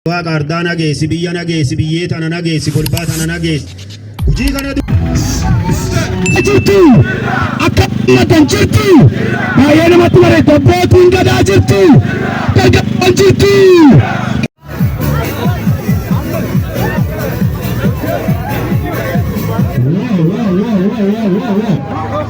Waaqa ardaa nageessi, biyya nageessi, biyyee tana nageessi, golbaa tana nageessi. Hojii kana jirti akka maddan jirti baay'ee namatti bareedda abbootiin gadaa jirti dargaggoon jirti. Wow, wow, wow, wow, wow, wow.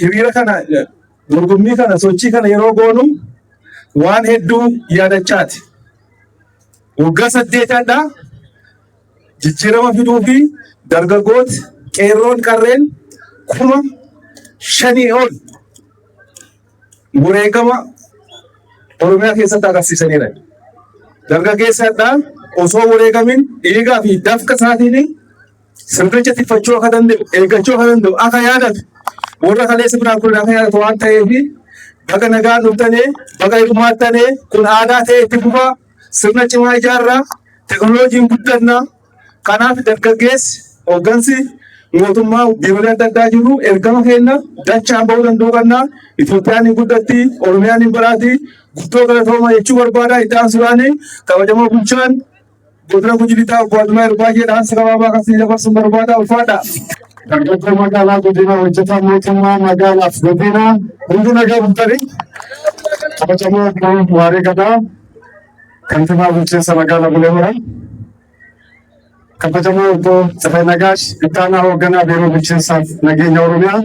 Hiriira kana dorgommii kana sochii kana yeroo goonu waan hedduu yaadachaati. Waggaa saddeetadha jijjiirama fiduu fi dargaggooti qeerroon qarreen kuma shanii ol wareegama Oromiyaa keessatti agarsiisaniira. Dargaggeessadha osoo wareegamin dhiigaa fi dafqa isaatiin sirnicha tiffachuu akka danda'u, eeggachuu akka danda'u, akka yaadatu, warra kaleessa biraan kun akka yaadatu waan ta'eef baga nagaa dhuftanii, baga hirmaattanii, kun aadaa ta'e itti fufaa, sirna cimaa ijaarraa, teknooloojiin guddannaa. Kanaaf dargaggeessi hooggansi mootummaa biirolee adda addaa jiru ergama keenya dachaan ba'uu danda'u qabna. Itoophiyaan hin guddatti, Oromiyaan hin badhaati, guddoo galatooma jechuu barbaada. Itti aansuudhaan kabajamoo bulchaan Godina Gujii Lixaa Obbo Admaayir baay'ee dhaamsa gabaabaa kan siin dabarsuun barbaada ulfaadha. Dargaggoo magaalaa Godinaa hojjetaa mootummaa magaalaaf Godinaa hunduu nagaa bultanii kabajamoo obbo Waaree Gadaa kantiibaa bulchiinsa magaalaa Bulee Horaa kabajamoo obbo Tsafay Nagaash ittaanaa hoogganaa biiroo bulchiinsaaf nageenya Oromiyaa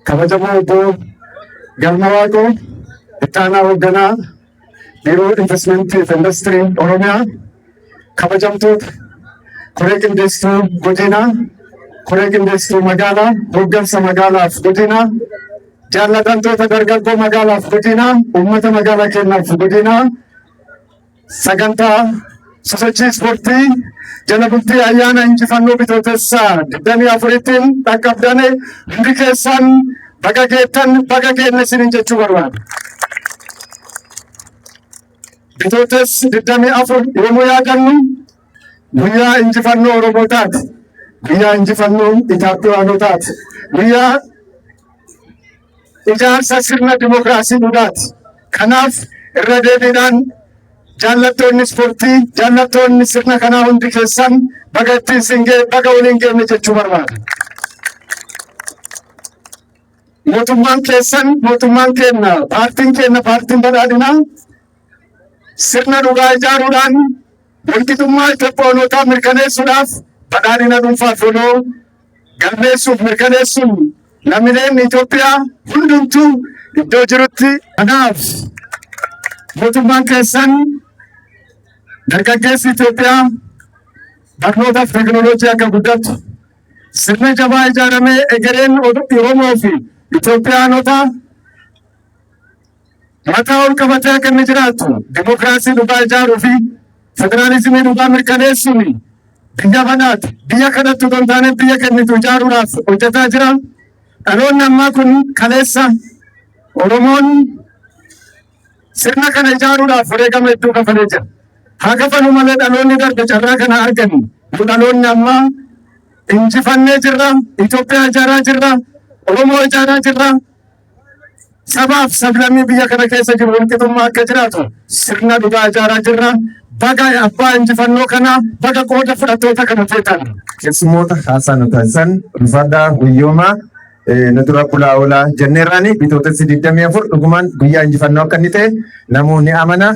kabajamoo obbo Galma Waaqoo ittaanaa hoogganaa Biiroo Inveestmentii fi Industirii Oromiyaa, kabajamtoota koree qindeessituu godinaa, koree qindeessituu magaalaa, hooggansa magaalaaf godinaa, jaallatamtoota dargaggoo magaalaaf godinaa, uummata magaalaa keenyaaf godinaa sagantaa Sosochii ispoortii jala bultii ayyaana injifannoo bitootessa 24tiin dhaqqabdane hundi keessan baga geettan baga geenne isiniin jechuu barbaada. Bitootes 24 yommuu yaadannu guyyaa injifannoo Oromoo taate, guyyaa injifannoo Itoophiyaanoo taate, guyyaa ijaarsa sirna dimokiraasii dhugaati. Kanaaf irra deebiidhaan jaallattoonni ispoortii, jaallattoonni sirna kanaa hundi keessan baga ittiin siin ga'e, baga waliin geenye jechuu barbaada. Mootummaan keessan, mootummaan keenya, paartiin keenya, paartiin badhaadhinaa sirna dhugaa ijaaruudhaan walqixummaa Itoophiyaanootaa mirkaneessuudhaaf badhaadhina dhuunfaa fi waloo galmeessuuf mirkaneessuun lammileen Itoophiyaa hundumtuu iddoo jirutti kanaaf mootummaan keessan dargaggeessi Itoophiyaa barnootaaf teekinooloojii akka guddatu sirna jabaa ijaaramee egereen Oromoo fi Itoophiyaanota mataa ol qabatee akka inni jiraatu dimokiraasii dhugaa ijaaruu fi federaalizimii dhugaa mirkaneessuun biyya banaati. Biyya kanatti otoo hin taane biyya kennitu ijaaruudhaaf hojjetaa jira. Dhaloonni ammaa kun kaleessa Oromoon sirna kana ijaaruudhaaf wareegama hedduu kafalee jira. Haa kafalu malee dhaloonni darbe carraa kana argani. Nu dhaloonni ammaa injifannee jirra. Itoophiyaa ijaaraa jirra. Oromoo ijaaraa jirra. Sabaaf sablammii biyya kana keessa jiru walqixummaa akka jiraatu sirna dhugaa ijaaraa jirra. Baga abbaa injifannoo kanaa baga qooda fudhattoota kana feetan. Keessummoota haasaa nu taasisan ulfaadhaa guyyoomaa nu dura bulaa oolaa jenneerraani bitootessi 24 dhugumaan guyyaa injifannoo akka inni ta'e Namuu ni amana.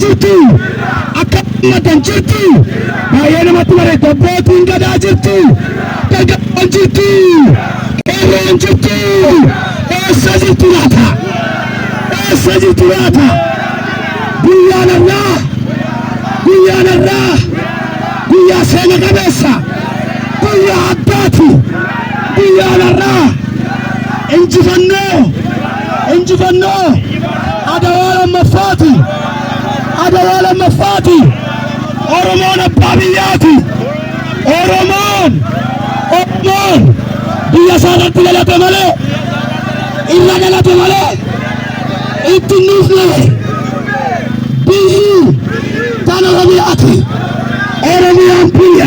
jirti akka ummatan jirti baay'ee namatti bareeddu abbootiin gadaa jirti dargaggoon jirti qeerroon jirti eessa jirtu laata eessa jirtu laata guyyaan irraa guyyaan irraa guyyaa seena qabeessa guyyaa addaati. Biyya alarraa injifannoo injifannoo adawaa lammaffaati adawaa lammaffaati Oromoon abbaa biyyaati Oromoon Oromoon biyya isaa irratti dhalate malee irra dhalate malee itti hin dhufne biyyi tana Oromiyaati Oromiyaan biyya.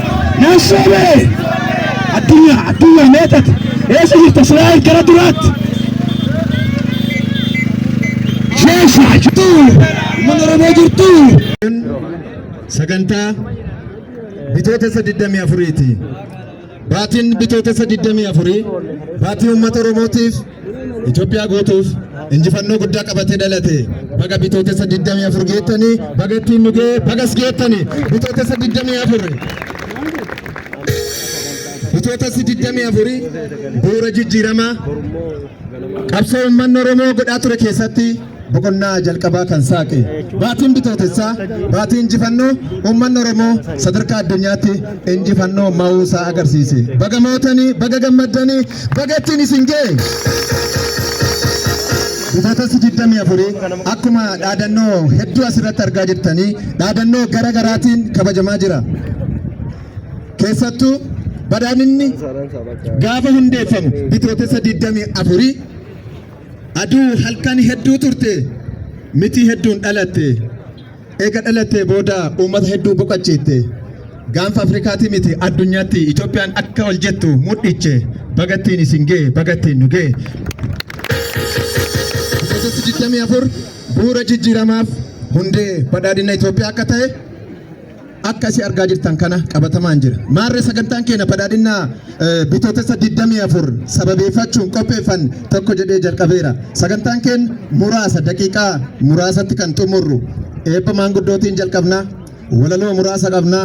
Naasoo bee! Addunyaa, addunyaa mee tati? Eessa jirta Israa'el gara duraatti? Sheesha jirtu! Mana Oromoo jirtu! Sagantaa bitootessa 24ti. Baatiin bitootessa 24 baatii uummata Oromootiif Itoophiyaa guutuuf injifannoo guddaa qabatee dhalate baga bitootessa 24 geettanii baga ittiin nu ga'e bagas geettanii bitootessa 24. Bitootessi 24 bu'uura jijjiiramaa qabsoo uummanni Oromoo godhaa ture keessatti boqonnaa jalqabaa kan saaqe baatiin bitootessaa baatii injifannoo uummanni Oromoo sadarkaa addunyaatti injifannoo ma'uu isaa agarsiise. Baga mootanii, baga gammaddanii, baga ittiin isin ga'e. Bitootessi 24 akkuma dhaadannoo hedduu asirratti argaa jirtanii dhaadannoo gara garaatiin kabajamaa jira. Keessattuu badhaadhinni gaafa hundeeffamu bitootessa 24 Aduu halkan hedduu turte mitii hedduun dhalatte eega dhalattee booda uummata hedduu boqachiitte gaanfa Afrikaati miti addunyaatti Itoophiyaan akka ol jettu mudhiche bagattiin isin ga'e bagattiin nu ga'e. Keessatti 24 bu'uura jijjiiramaaf hundee badhaadhina Itoophiyaa akka ta'e akka isi argaa jirtan kana qabatamaan jira. Maarree sagantaan keenya badhaadhinnaa bitootessa 24 sababeeffachuun qopheeffan tokko jedhee jalqabeera. Sagantaan keenya muraasa daqiiqaa muraasatti kan xumurru eebba maanguddootiin jalqabna. Walaloo muraasa qabna.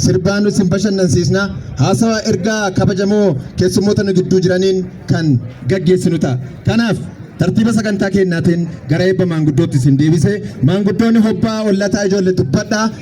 Sirbaan nu isin bashannansiisna. Haasawaa ergaa kabajamoo keessummoota nu gidduu jiraniin kan gaggeessinu ta'a. Kanaaf tartiiba sagantaa keenyaatiin gara eebba maanguddootti isin deebise maanguddoonni hobbaa ollataa ijoollee dubbadhaa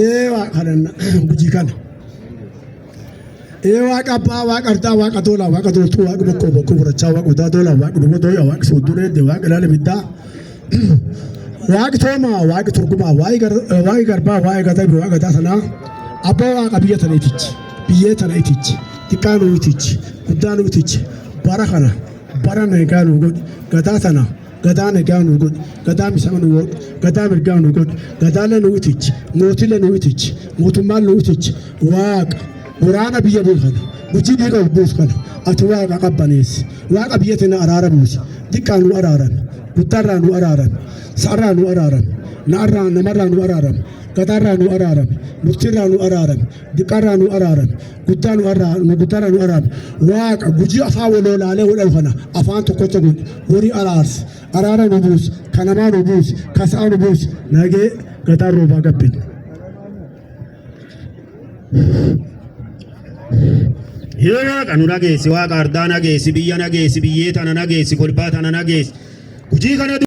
ee waaqa kadhanna gujii kana ee waaqa abbaa waaqa ardaa waaqa tola waaqa toltuu waaqa bokkoo bokkoo gurrachaa waaqa odaa tola waaqa duba dooya waaqa sooddureedde waaqa ilaala biddaa waaqi toomaa waaqi turgumaa waaqi garbaa waaqi gadabi waaqi gadaa sanaa abbaa waaqa biyya tana itichi biyyee tana itichi xiqqaa nuu itichi guddaa nuu itichi bara kana bara nagaa nuu godhi gadaa tana gadaa nagaa nuu godhi gadaa misama nuu godhi gadaa mirgaa nuu godhi gadaalee nuu itichi mootilee nuu itichi mootummaan nuu itichi waaqa Waraana biyya buufana. Gujii dhiiga of buufana. Ati waaqa qabbaneessi. Waaqa biyya tana araara buusi. Xiqqaa nu araaran. Guddaarraa nu araaran. Sa'arraa nu araaran. Na'arraa namarraa nu araaran. Gadaarraa nu araaran. Murtiirraa nu araaran. Diqqaarraa nu araaran. Guddaa nu arraa nu guddaarraa nu araaran. Waaqa gujii afaan waloolaalee wal dhufana. Afaan tokkocha godhi. Horii araarsi. Araara nu buusi. Kanamaa nu buusi. Kasaa nu buusi. Nagee gadaa roobaa gabbina. Yoo waaqa nu dhageessi, waaqa ardaa dhageessi, biyya dhageessi, biyyee tana dhageessi, kolbaa tana dhageessi. Hojii kana